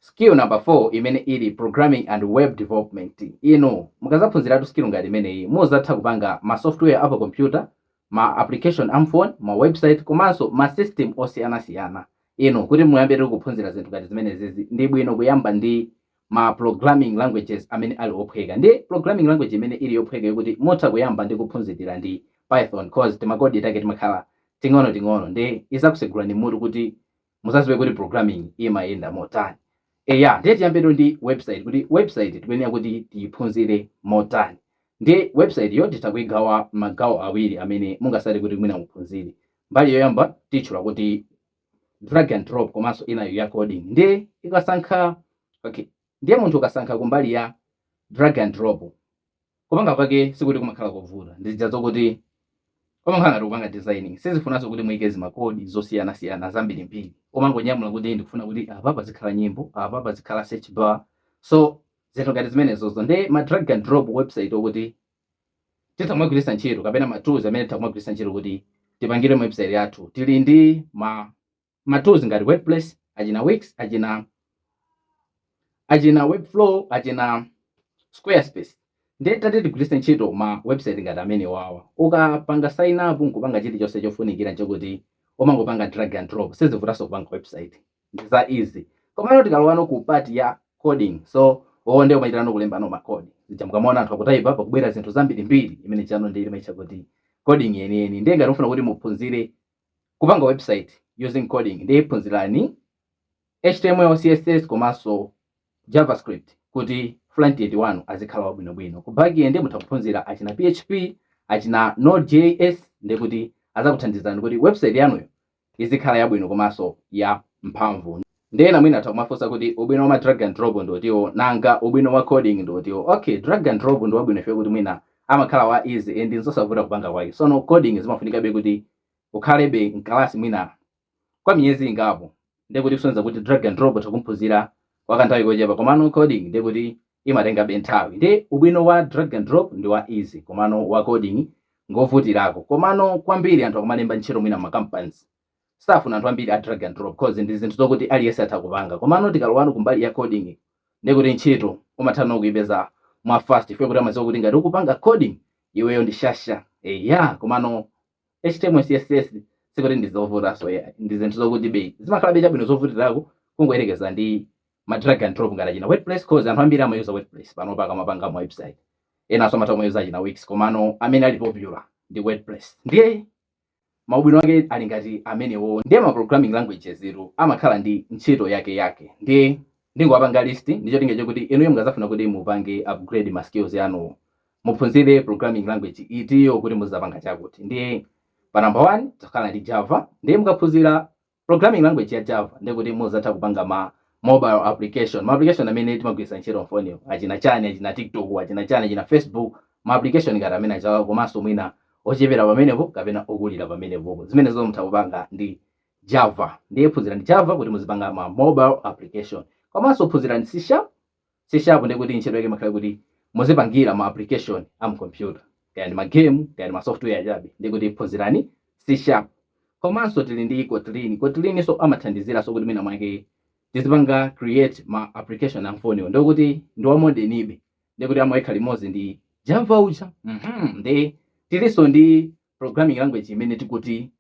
Skill number 4 imene ili Programming and Web Development. Inu mukazaphunziratu skill ngati imeneyi, muzatha kupanga ma software a pa computer, ma application a mphone, ma website komanso ma system osiyanasiyana. Inu kuti muyambetu kuphunzira zinthu ngati zimenezizi, ndi bwino kuyamba ndi ma programming languages amene ali ophweka. Ndi programming language imene ili yophweka yokuti mutha kuyamba ndi kuphunzira ndi Python coz timakodi take timakhala ting'onoting'ono ndi izakusegulani mutu kuti muzaziwe kuti programming imayenda motani eya ndiye tiyambetu ndi website kuti website tikuyenera kuti tiyiphunzire motani ndi website yo titha kuigawa magawo awiri amene mungasankhe kuti mwina muphunzire mbali yoyamba titchula kuti drag and drop komanso inayo ya coding ndiye ikasankha okay ndiye munthu ukasankha kumbali ya drag and drop kupanga kwake sikuti kumakhala kovuta ndi zija zokuti pamakhala ngati kupanga designing sizifunanso kuti muike zimakodi zosiyanasiyana zambirimbiri umangonyamula kuti ndikufuna kuti apa pazikhala nyimbo apa pazikhala search bar so zinthu ngati zimenezozo ndi ma drag and drop website okuti titha kumagwiritsa ntchito kapena ma tools amene titha kumagwiritsa ntchito kuti tipangire website yathu tili ndi ma ma tools ngati WordPress, achina Wix, achina achina Webflow, achina Squarespace. Ndiye tati tigwiritse ntchito ma website ngati amenewawa. Ukapanga sign up nkupanga chilichonse chofunikira nchakuti umangopanga drag and drop. Sizivutanso kupanga website. Ndi za easy. Komano tikalowano ku part ya coding. So wowo ndiye umachitirano kulembano ma code. Zija mukamaona anthu akutaipa pakubwera zinthu zambirimbiri imene ijano ndiye imaitcha kuti coding yeniyeni. Ndiye ngati mufuna kuti muphunzire kupanga website using coding ndiye phunzirani html css komanso javascript kuti frontend wanu azikhala wabwinobwino ku backend mutha kuphunzira achina php achina nodejs ndi kuti azakuthandizani kuti website yanuyo izikhala yabwino komanso ya mphamvu Ndiye ena mwina atha kumafunsa kuti ubwino wa ma drag and drop ndi utiwo? Nanga ubwino wa coding ndi utiwo? Ok, drag and drop ndi wabwino chifukwa choti mwina amakhala wa easy and nzosavuta kupanga kwake. Sono coding zimafunikabe kuti ukhalebe m'kalasi mwina kwa miyezi ingapo. Ndiye kuti kusonyeza kuti drag and drop utha kuphunzira kwa kanthawi kochepa komano coding ndiye kuti imatengabe nthawi. Ndiye ubwino wa drag and drop ndi wa easy komano wa coding ngovutirako. Komano kwambiri anthu akumalemba ntchito mwina m'ma companies. safuna anthu ambiri a drag and drop coz ndi zinthu zokuti aliyense atha kupanga komano tikalowano kumbali ya coding ndiye kuti ntchito umathano kuipeza mwa fast chifukwa kuti amadziwa kuti ngati ukupanga coding iweyo ndi shasha eya komano html css sikuti ndi zovutanso eya ndi zinthu zokutibe zimakhalabe chabwino zovutirako kungoyerekeza ndi ma drag and drop ngati achina wordpress coz anthu ambiri amayuza wordpress panopa akamapanga ma website enanso amatha kumayuza achina wix komano amene ali popular ndi wordpress ndiye maubwino ake ali ngati amenewo ndiye ma programming languages-tu amakhala ndi ntchito yake yake ndiye ndingowapanga list ndi cholinga chakuti inuyo mukazafuna kuti mupange upgrade ma skills anuwo muphunzire programming language itiyo kuti muzapanga chakuti ndiye pa number 1 tikhala ndi java ndiye mukaphunzira Programming language ya Java ndekuti muzatha kupanga ma mobile application, ma application amene timagwiritsa ntchito mfoniyo, achina chani, achina TikTok, achina chani, achina Facebook, ma application ngati amene aja komanso mwina ochepera pamenepo kapena okulira pamenepopo. Zimenezo mutha kupanga ndi Java. Ndiye phunzirani Java kuti muzipanga ma mobile application. Komanso phunzirani C Sharp C sharp ndiye kuti ntchito yake imakhala kuti muzipangira ma application a mu computer kaya ndi ma game kaya ndi ma software achabe ndiye kuti phunzirani C sharp komanso tili ndi Kotlin Kotlin so amathandizira so kuti mwina mwake tizipanga create ma application a mfoniwo ndiye kuti ndi wa modernibe ndiye kuti amayika limodzi ndi Java uja mhm ndiye tilinso ndi programming language imene tikuti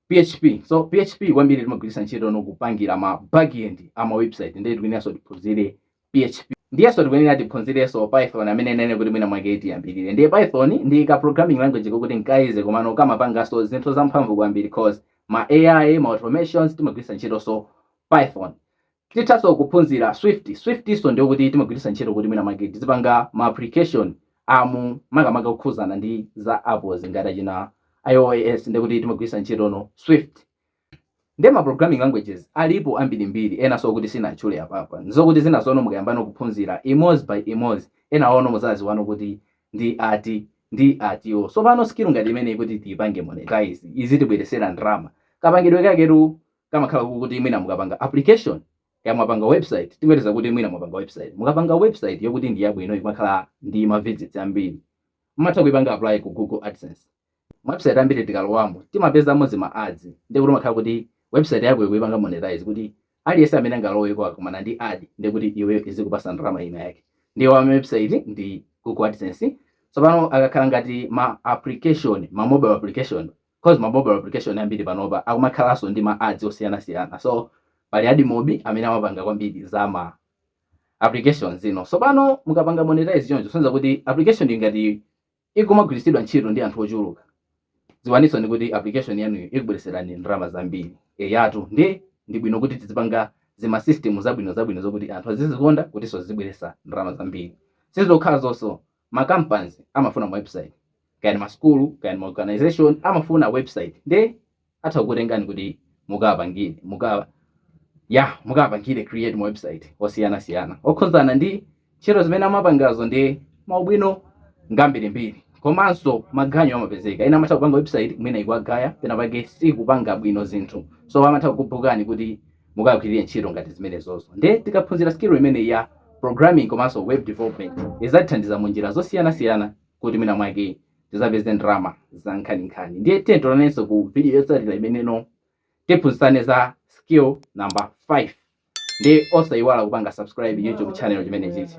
php so php kwambiri timagwiritsa ntchito nokupangira ma backend ama website ndiye tikuyeneranso tiphunzire php ndiyenso tikuyenera tiphunzirenso python amene ndanena kuti mwina mwake tiyambirire ndiye python ndi ka programming language kokuti nkaize komano kamapanganso zinthu zamphamvu kwambiri cause ma ai ma automations timagwiritsa ntchitonso python Tithanso kuphunzira Swift. Swift-nso ndiye kuti timagwiritsa ntchito kuti mwina mwake tizipanga ma application a mu makamaka okhudzana ndi za Apple ngati achina IOS ndiye kuti timagwiritsa ntchitono Swift. Ndiye ma programming languages alipo ambirimbiri enanso okuti sinatchule apapa. N'zokuti zinazono mukayambano kuphunzira imodzi by imodzi, enawono mudzadziwano kuti ndi ati ndi atiwo. Tsopano skill ngati imeneyi kuti tiipange monetize, izitibweretsera ndalama, kapangidwe kaketu kamakhala kokuti mwina mukapanga application kaya mwapanga website tingoyerekeza kuti mwina mwapanga website mukapanga website yokuti ndi yabwino ikumakhala ndi ma visits ambiri mumatha kuipanga apply ku google adsense website ambiri tikalowamo timapezamo zima ads ndiye kuti umakhala kuti website yako ukuipanga monetize kuti aliyense amene angaloweko akumana ndi ad ndi kuti iweyo izikupasa ndalama ina yake ndiyo ya website ndi google adsense tsopano akakhala ngati ma application ma mobile application coz ma mobile application ambiri panopa akumakhalanso ndi ma ads osiyanasiyana so pali AdMob amene amapanga kwambiri za ma application zino tsopano mukapanga monetize choncho kusonyeza kuti application ingati ikumagwiritsidwa ntchito ndi anthu ochuluka dziwaninso ni kuti application yanuyo ikubwereserani ndalama zambiri eyatu ndi ndi bwino kuti tizipanga zima system zabwino zabwino zokuti anthu azizikonda kutinso zizibweresa ndalama zambiri sizokhala zonso ma companies amafuna ma website kaya ndi ma school kaya ndi ma organisation amafuna website nde atha kukutengani kuti mukawapangire mukawa mukawapangire create ma website osiyana siyana okhuzana ndi ntchito zimene amapangazo ndi maubwino ngambirimbiri komanso maganyu amapezeka ena amatha kupanga website mwina ikuwagaya pena pake sikupanga bwino zinthu so amatha kukubhukani kuti mukagwirire ntchito ngati zimenezozo nde tikaphunzira skill imeneyi ya programming komanso web development izatithandiza mu njira zosiyanasiyana kuti mwina mwake tizapeze ndalama za nkhaninkhani ndiye tiyeni tionanenso ku video yotsatira imeneno tiphunzitsane za skill number 5 ndi osayiwala kupanga subscribe youtube channel chimenechichi